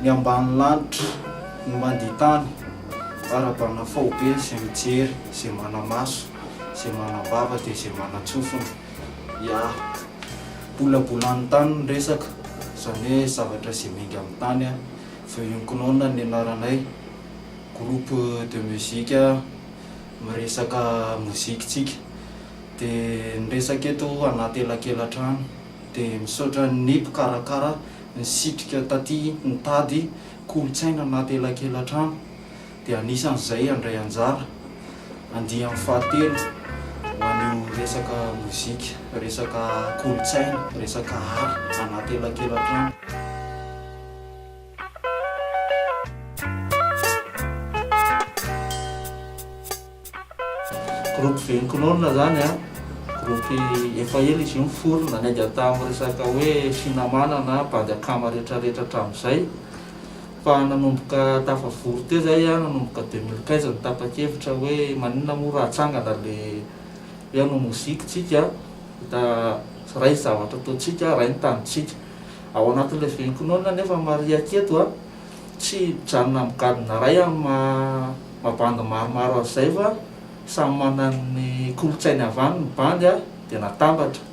Ny ambany lanitra, ny mandia tany, ara-bana faobe izay mijery, izay mana-maso, izay manam-bava dia izay manan-tsofina. Ya, bolabolan'ny tany ny resaka, izany hoe zavatra izay miainga amin'ny tany. Veuillons Kinona ny anaranay, groupe de musique. miresaka moziky tsika de miresaka eto anaty elakelatrano de misaotra ny mpikarakara nisitrika taty nitady kolotsaina anaty elakelatrano de anisan'izay handray anjara andiany fahatelo ho an'io resaka moziky resaka kolotsaina resaka art anaty elakelatrano. Groupe Venconol zany an, groupe efa ela izy io niforona, niainga tamin'ny resaka hoe Sinamana na Bande Akama retraretra hatramin'izay, fa nanomboka tafavory teo zay an, nanomboka deux mille quinze no tapa-kevitra hoe maninona moa raha atsangana le hoe hanao moziky tsika, hita ray zavatra ataontsika, ray ny tanintsika. Ao anatin'ilay venkonona anefa ny mariaka eto, tsy mijanona amin'ny gadona iray amin'ny maha bandy maromaro azy izay fa samy manana ny kolontsainy avy any ny bandy dia natambatra.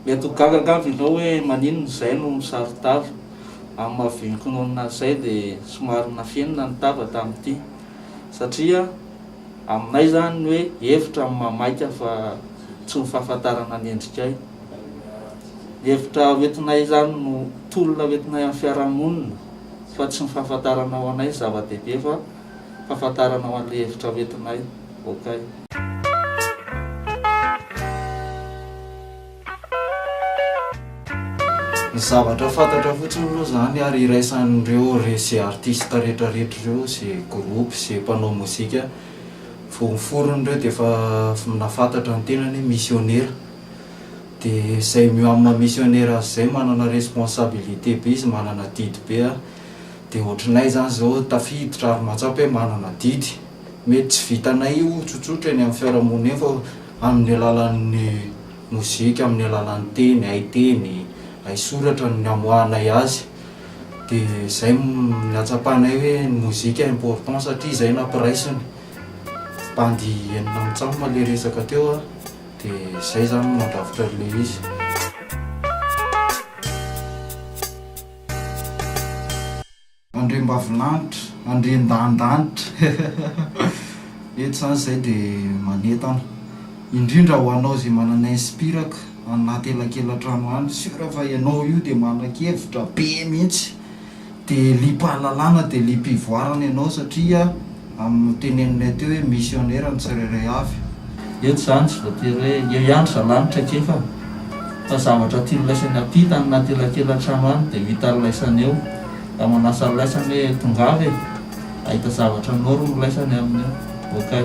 Mety ho gaga angamba ianao hoe maninona izay no misaro-tava. Amin'ny maha venkonona azy izay dia somary nafenina ny tava tamin'ity satria aminay izany ny hoe hevitra no maha maika fa tsy ny fahafantarana ny endrikay. Hevitra hoentinay izany no tolona hoentinay amin'ny fiarahamonina fa tsy ny fahafantarana ho anay ny zava-dehibe fa fahafantarana ho an'ilay hevitra hoentinay. Okay. Ny zavatra fantatra fotsiny aloha izany ary iraisan'ireo ze artista retraretra ireo, ze groupe, ze mpanao mozika vao niforona ireo dia efa nahafantatra ny tenany hoe misionera. dia izay mio amina missionera azy izay manana responsabilité be izy manana adidy be a, dia ohatranay zany zao tafiditra ary mahatsapa hoe manana adidy, mety tsy vitanay io tsotsotra eny amin'ny fiarahamonina eny fa amin'ny alalan'ny mozika, amin'ny alalan'ny teny, hay teny, hay soratra no namoahanay azy, dia izay no nahatsapanay hoe ny mozika important satria izay nampiraisiny, bandy enina amby tsamba ilay resaka teo a. Dia izay izany no mandrafitra an'ilay izy. Andriambavilanitra, Andriandanindanitra. Eto izany izay dia manentana indrindra ho anao izay manana inspiraka any anaty elakelatrano any. Sûr fa ianao io dia manan-kevitra be mihitsy Dia liam-pahalalana dia liam-pivoarana ianao satria amin'ny notenenin'ilay teo hoe misionera ny tsirairay avy. Eto izany tsy voatery hoe eo ihany zalahy ny traikefa fa zavatra tiany laisany ampita any anaty elakelan-trano any dia hitany laisany eo ka manasa ny laisany hoe tongava e! hahita zavatra anao ry milaisany aminy eo okay.